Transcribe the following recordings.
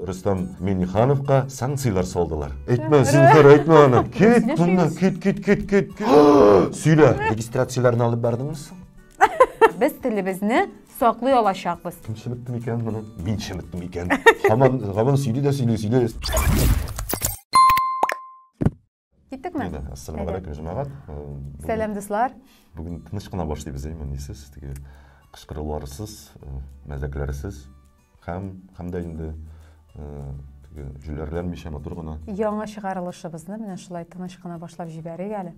Рустам Минихановка санкцияләр салдылар. Әйтмә, зинһар, әйтмә аны. Кит моннан, кит, кит, кит, кит. Сөйлә. Регистрацияләрне алып бардыңмы соң? Без телебезне саклый алачакбыз. Кем чеметтем икән моны? Мин чеметтем икән. Хаман, хаман сөйли дә сөйли, сөйли. Киттекме? Әйдә, ассаламу алейкум, җәмәгать. Э, Сәлам, дуслар. Бүген тыныч кына башлыйбыз, әйме, нисез, теге кычкыруларсыз, э, мәзәкләрсез һәм һәм дә инде э, теге җүләрләнмичә матур гына. Яңа чыгарылышыбызны менә шулай тыныч кына башлап җибәрик әле.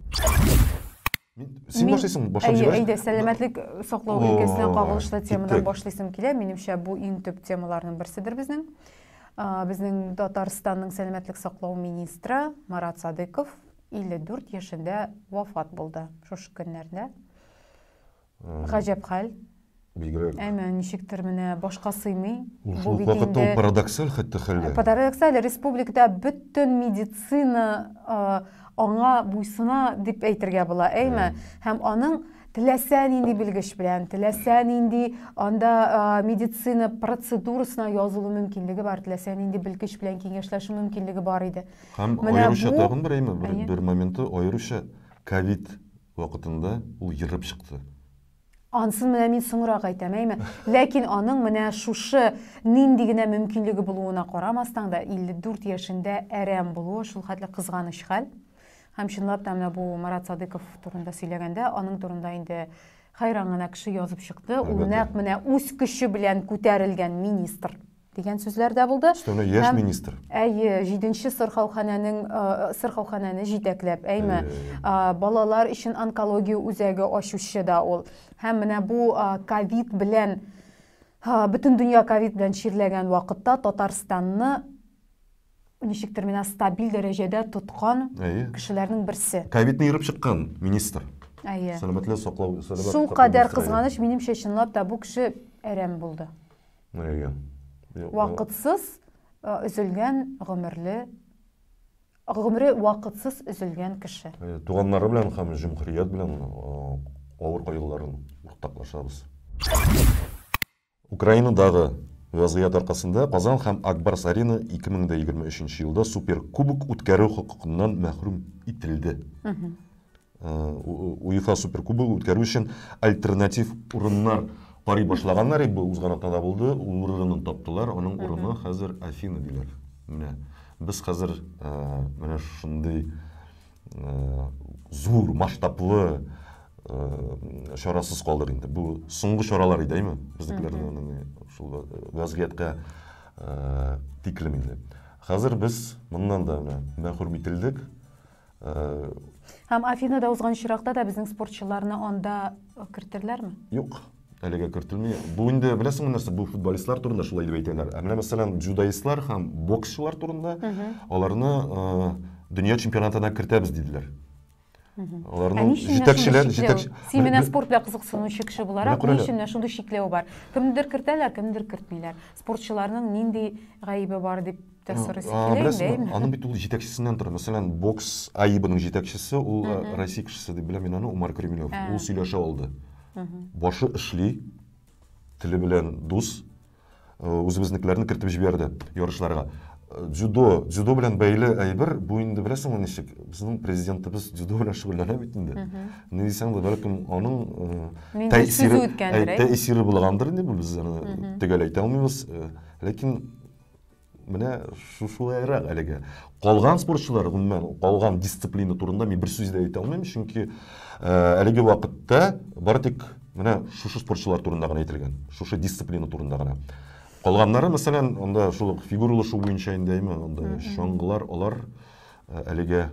Син башлыйсың, башлап җибәрәсең. Әйдә, сәламәтлек саклау өлкәсенә кагылышлы темадан башлыйсым килә. Минемчә, бу иң төп темаларның берседер безнең. Безнең Татарстанның сәламәтлек саклау министры Марат Садыков 54 яшендә вафат булды шушы көннәрдә. Гаҗәп хәл. Бигрәк. Әмма ничектер менә башка сыймый. Ул шул вакытта ул парадоксаль хәтта хәлләр. Парадоксаль республикада бөтен медицина аңа буйсына дип әйтергә була, әйме? Һәм аның теләсә нинди белгеч белән, теләсә нинди анда медицина процедурасына язылу мөмкинлеге бар, теләсә нинди белгеч белән киңәшләшү мөмкинлеге бар иде. Һәм аеруча тагын бер әйме, бер моменты аеруча ковид вакытында ул ерып чыкты. Ансын менә мин соңрак әйтәм, әйме. Ләкин аның менә шушы нинди генә мөмкинлеге булуына карамастан да 54 яшендә әрәм булуы шул хәтле кызганыч хәл. Һәм чынлап та менә бу Марат Садыйков турында сөйләгәндә, аның турында инде хайран гына кеше язып чыкты. Ул нәкъ менә үз көче белән күтәрелгән министр. дигән сүзләр дә булды. Өстәвенә яшь министр. Әйе, җиденче сырхауханәнең сырхауханәне җитәкләп, әйме, балалар өчен онкология үзәге ачучы да ул. Һәм менә бу ковид белән бөтен дөнья ковид белән чирләгән вакытта Татарстанны ничектер менә стабиль дәрәҗәдә тоткан кешеләрнең берсе. Ковидны ерып чыккан министр. Әйе. Сәламәтлек саклау сәламәтлек. Шул кадәр кызганыч, минемчә, чынлап та бу кеше әрәм булды. Әйе. Вакытсыз өзелгән гомерле гомере вакытсыз өзелгән кеше. Э, туганнары белән һәм җөмһүрият белән э, авыр кайгыларын уртаклашабыз. Украинадагы вазгыять аркасында Казан һәм Акбарс Арена 2023 елда суперкубок үткәрү хокукыннан мәхрүм ителде. УЕФА суперкубогы үткәрү өчен альтернатив урыннар карый башлаганнар иде, бу узган атнада булды, урынын таптылар, аның урыны хәзер Афина диләр. Менә без хәзер менә шундый зур масштаблы чарасыз калдык инде. Бу соңгы чаралар иде, әйме? Безнекеләрдә шул вазгыятькә тиклем инде. Хәзер без моннан да мәхрүм ителдек. Һәм Афинада узган чиракта да безнең спортчыларны анда кертерләрме? Юк, әлегә кертелми. Бу инде беләсеңме нәрсә, бу футболистлар турында шулай дип әйтәләр. Ә менә мәсәлән, дзюдоистлар һәм боксчылар турында аларны дөнья чемпионатына кертәбез диделәр. Аларның җитәкчеләр, җитәкче. Син менә спорт белән кызыксынучы кеше буларак, ни өчен шундый чикләү бар? Кемнедер кертәләр, кемнедер кертмиләр. Спортчыларның нинди гаебе бар дип Беләсеңме, аның бит ул җитәкчесеннән тора. Мәсәлән, бокс АИБының җитәкчесе, ул Россия кешесе дип беләм мин аны, Умар Кремлев. Ул сөйләшә алды. Башы эшли, теле белән дус, үзебезнекеләрне кертеп җибәрде ярышларга. Дзюдо, дзюдо белән бәйле әйбер, бу инде беләсеңме ничек? Безнең президентыбыз дзюдо белән шөгыльләнә бит инде. Ни дисәң дә, бәлкем, аның тәэсире булгандыр инде, без аны төгәл әйтә алмыйбыз. Ләкин менә шушылайрак әлегә калган спортчылар гомумән калган дисциплина турында мин бер сүз дә әйтә алмыйм чөнки әлеге вакытта бары тик менә шушы спортчылар турында гына әйтелгән шушы дисциплина турында гына калганнары мәсәлән анда шул ук фигуралы шуу буенча инде әйме анда чаңгылар алар әлегә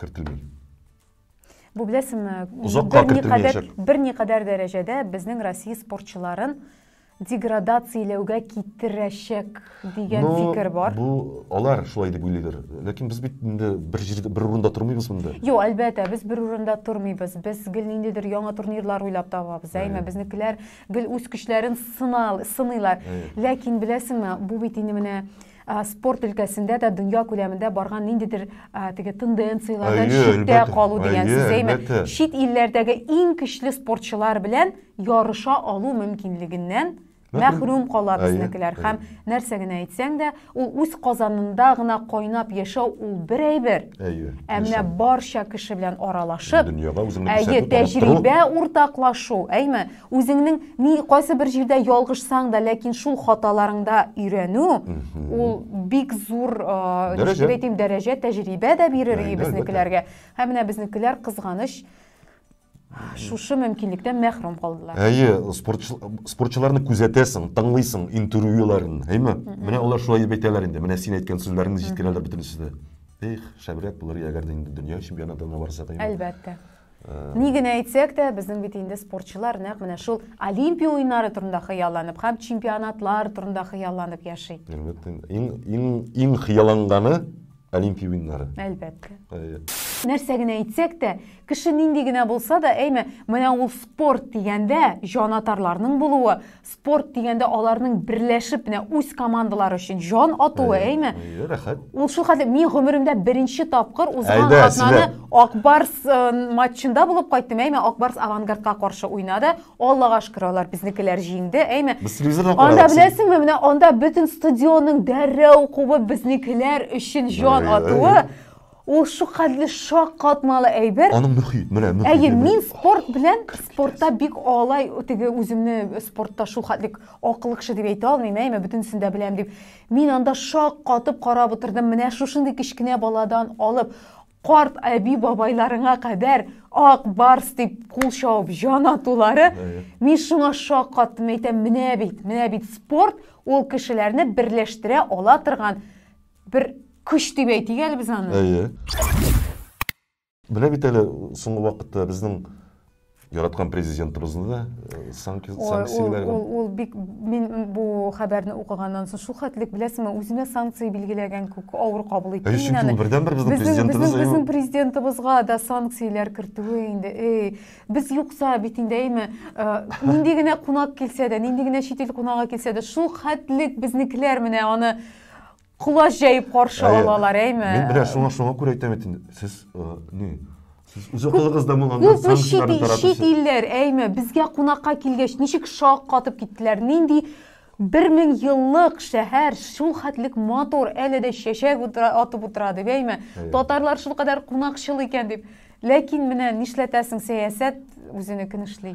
кертелми Бу беләсеңме? Озакка кертелмәячәк. Берникадәр дәрәҗәдә безнең Россия спортчыларын деградацияләүгә китерәчәк дигән ну, фикер бар. Бу алар шулай дип уйлыйлар. Ләкин без бит инде бер җирдә бер урында тормыйбыз монда. Юк, әлбәттә, без бер урында тормыйбыз. Без гел ниндидер яңа турнирлар уйлап табабыз. Әйме, безнекеләр гел үз көчләрен сынал, сыныйлар. Ләкин беләсеңме, бу бит инде менә спорт өлкәсендә дә дөнья күләмендә барган ниндидер теге тенденцияләрдән читтә калу дигән сүз әйме чит илләрдәге иң көчле спортчылар белән ярыша алу мөмкинлегеннән мәхрүм кала безнекеләр һәм нәрсә генә әйтсәң дә ул үз казанында гына кайнап яшәү ул бер әйбер ә менә барча кеше белән аралашып дөньяга үзеңне әйе тәҗрибә уртаклашу әйме Үзеңнең ни кайсы бер җирдә ялгышсаң да, ләкин шул хаталарыңда өйрәнү, ул бик зур, ничек әйтим, дәрәҗә, тәҗрибә дә бирер и безнекеләргә. Һәм менә безнекеләр кызганыч шушы мөмкинлектән мәхрүм калдылар. Әйе, спортчыларны күзәтәсең, тыңлыйсың интервьюларын, әйме? Менә алар шулай дип әйтәләр инде. Менә син әйткән сүзләрне җиткерәләр бөтенесе дә. Эх, шәбрәк булыр, әгәр дә инде дөнья чемпионатына барса да. Әлбәттә. Ни генә әйтсәк тә, безнең бит инде спортчылар нәкъ менә шул Олимпия уеннары турында хыялланып һәм чемпионатлар турында хыялланып яши. Әлбәттә, иң иң иң хыялланганы Олимпия уеннары. Әлбәттә. Нәрсә генә әйтсәк тә, кеше нинди генә булса да, әйме, менә ул спорт дигәндә җанатарларның булуы, спорт дигәндә аларның берләшеп менә үз командалары өчен җан атуы әйме рәхәт ул шул хәтле мин гомеремдә беренче тапкыр узган атнаны акбарс э, матчында булып кайттым әйме акбарс авангардка каршы уйнады аллага шөкер алар безнекеләр җиңде әйме без телевизордан анда беләсеңме менә анда бөтен стадионның дәррәү кубып безнекеләр өчен җан атуы Ул шукатлы шаккатмалы әйбер. Аның мөхит, менә мөхит. Әйе, мин спорт белән, спортта бик алай теге үземне спортта шул хәтлек акыллы кеше дип әйтә алмыйм, әйме бөтенсен дә беләм дип. Мин анда шаккатып карап утырдым, менә шушындый кечкенә баладан алып карт әби бабайларыңа кадәр ак барс дип кул чабып җан атулары. Мин шуңа шаккаттым, әйтәм, менә бит, менә бит спорт ул кешеләрне берләштерә ала торган Бер көч дип әйтик әле без аны. Әйе. Менә бит әле соңгы вакытта безнең яраткан президентыбызны да э, санкцияләгән. Ул, ул, ул бик мин бу хәбәрне укыганнан соң шул хәтлек беләсеңме, үзенә санкция билгеләгән күк авыр кабул итте. Әйе, чөнки ул бердәнбер безнең президентыбыз. Безнең, безнең президентыбызга да санкцияләр кертүе инде. Эй, без юкса бит инде әйме, э, нинди генә кунак килсә дә, нинди генә чит ил кунагы килсә дә, шул хәтлек безнекеләр менә аны Колач җәеп каршы Әйе. алалар, әйме? Мин менә шуңа шуңа күрә әйтәм бит инде. Сез э, ни? Сез үз акылыгызда булганнар, Күпме чит, санкцияләрне ил- чит таратучы. илләр, әйме, безгә кунакка килгәч, ничек шак катып киттеләр, нинди бер мең еллык шәһәр шул хәтлек матур, әле дә чәчәк утыра, атып утыра дип, әйме, Әйе. татарлар шул кадәр кунакчыл икән дип. Ләкин менә нишләтәсең, сәясәт үзенекен эшли.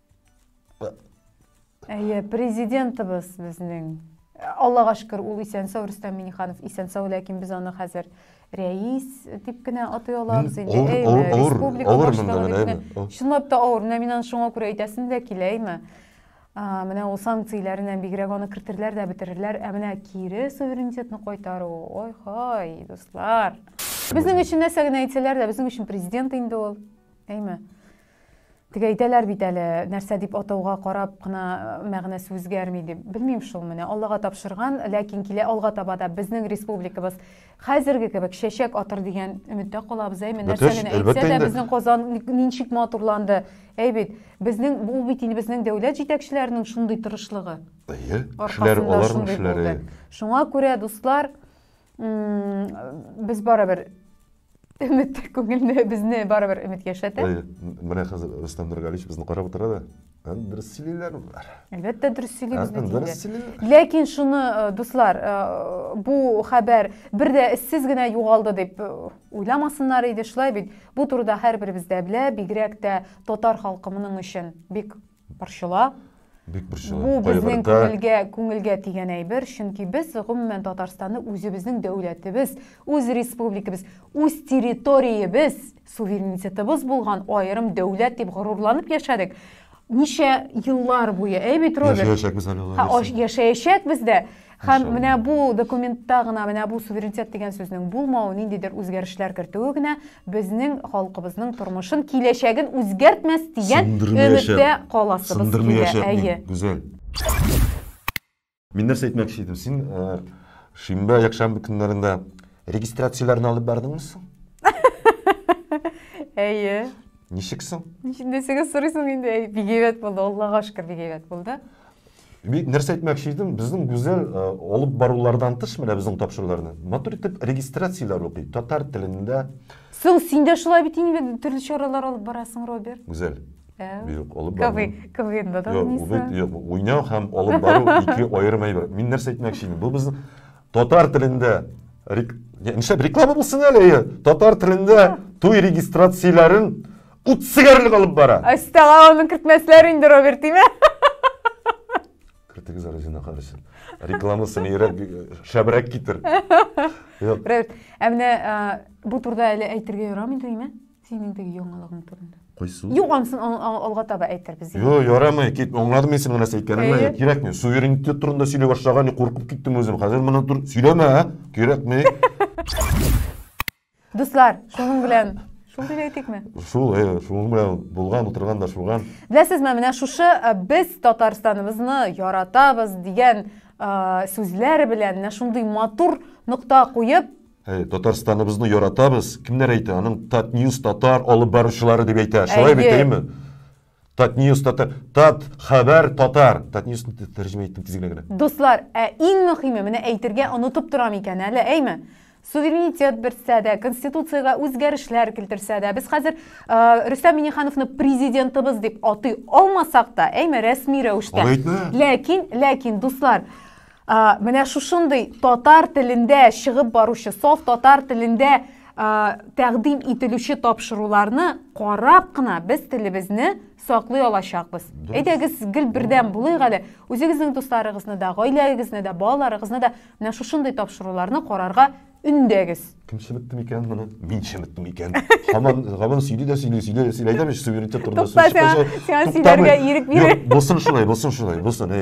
Әйе, президентыбыз безнең. Аллага шөкер, ул исән сау Рөстәм Миниханов исән сау, ләкин без аны хәзер рәис дип кенә атый алабыз инде. Авыр, Әйе, авыр, авыр, республика авыр монда башлыгы менә, дип әйме. кенә. Чынлап та авыр. Менә мин аны шуңа күрә әйтәсем дә килә, әйме. А, Менә ул санкцияләреннән бигрәк аны кертерләр дә бетерерләр, ә менә кире суверенитетны кайтару, ой хай, дуслар. Безнең өчен нәрсә генә әйтсәләр дә, безнең өчен президент инде ул, әйме. Теге әйтәләр бит әле, нәрсә дип атауга карап кына мәгънәсе үзгәрми дип. Белмим шул менә, Аллага тапшырган, ләкин килә алга таба да безнең республикабыз хәзерге кебек чәчәк атыр дигән өметтә калабыз. Әйме, нәрсә генә әйтсә дә безнең Казан ничек матурланды. Әй бит, безнең бу бит инде безнең дәүләт җитәкчеләренең шундый тырышлыгы. Әйе, кешеләр аларның эшләре. Шуңа күрә, дуслар, без барыбер Өмет күңелне безне барыбер өмет яшәтә. Менә хәзер Рөстәм Нургалич безне карап утыра да. Дөрес сөйлиләр болар. Әлбәттә дөрес сөйли безне диде. Ләкин шуны э, дуслар, э, бу хәбәр бер дә эзсез генә югалды дип э, уйламасыннар иде, шулай бит. Бу турыда һәрберебез дә белә, бигрәк тә татар халкы моның өчен бик Борчыла. Бик борчыла. Бу безнең күңелгә, күңелгә дигән әйбер, чөнки без гомумән Татарстанны үзебезнең дәүләтебез, үз республикабыз, үз территориябез, суверенитетыбыз булган аерым дәүләт дип горурланып яшәдек. Ничә еллар буе, әй бит Роберт? Яшәячәкбез әле. Яшәячәкбез дә. Һәм менә бу документта гына менә бу суверенитет дигән сүзнең булмавы, ниндидер үзгәрешләр кертүе генә безнең халкыбызның тормышын, киләчәген үзгәртмәс дигән өметтә каласыбыз килә. Әйе. Гүзәл. Мин нәрсә әйтмәкче идем? Син шимбә, якшәмбе көннәрендә регистрацияләрне алып бардыңмы соң? Әйе. Ничек соң? Ничек сорыйсың инде? Бигәйбәт булды, Аллага шөкер, бигәйбәт булды. Бик нәрсә әйтмәкче идем, безнең гүзәл э, алып барулардан тыш менә безнең тапшыруларны матур итеп регистрацияләр укый, татар телендә. Соң син дә шулай бит инде төрле чаралар алып барасың, Роберт. Гүзәл. Юк, алып бару. КВНда да уйныйсың. Юк, уйнау һәм алып бару ике аерым әйбер. Мин нәрсә әйтмәкче идем? Бу безнең татар телендә нишләп реклама булсын әле, татар телендә туй регистрацияләрен Утсыгарлык алып бара. Астага аны кертмәсләр инде, Роберт, диме? Кертегез әле зина карасын. Рекламасын ирәк шәбрәк китер. Роберт, ә менә бу турда әле әйтергә ярамый димме? Синең теге яңалыгың турында. Кайсы? Юк, ансын алга таба әйтербез. Юк, ярамый, кит. Аңладым мин синең нәрсә әйткәнеңне. Кирәкми. Суверенитет турында сөйли башлаган, куркып киттем үзем. Хәзер моны сөйләмә, кирәкми. Дуслар, шуның белән шул дип әйтикме? Шул, э, шуның белән булган, утырган да шуган. Беләсезме, менә шушы э, без Татарстаныбызны яратабыз дигән э, сүзләр белән менә шундый матур нокта куеп, Э, Татарстаныбызны яратабыз. Кемнәр әйтә? Аның Татньюз татар алып баручылары дип әйтә. Шулай Әйе. бит, әйеме? Татньюс тата тат хәбәр татар Татньюс тәрҗемә иттем тизгенә генә. Дуслар, ә иң мөхиме, менә әйтергә онытып торам икән әле, әйме? суверенитет бертсә дә, конституциягә үзгәрешләр килтерсә дә, без хәзер э, Рөстәм Минихановны президентыбыз дип атый алмасак та, әйме, рәсми рәвештә. Ләкин, ләкин, дуслар, Ә, менә шушындый татар телендә чыгып баручы, саф татар телендә ә, тәкъдим ителүче тапшыруларны карап кына без телебезне саклый алачакбыз. Әйдәгез, гел бердәм булыйк әле. Үзегезнең дусларыгызны да, гаиләгезне дә, балаларыгызны да менә шушындый тапшыруларны карарга Үндәгез. Кем чеметте микән моны? Мин чеметте микән? Хаман, хаман сөйли дә сөйли, сөйли дә сөйли. Әйтәм ич, суверенитет турында сүз чыкканча. Сиңа сөйләргә ирек бирә. Булсын шулай, булсын шулай, булсын.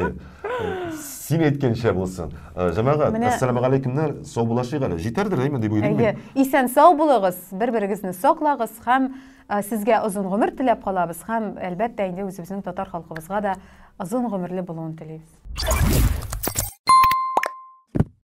Син әйткәнчә булсын. Э, Җәмәгать, ассаламу алейкумнар, сау булашыйк әле. Җитәрдер әйме дип уйлыйм мин. Исән сау булыгыз, бер-берегезне саклагыз һәм э, сезгә озын гомер теләп калабыз һәм әлбәттә инде үзебезнең татар халкыбызга да озын гомерле булуын телибез.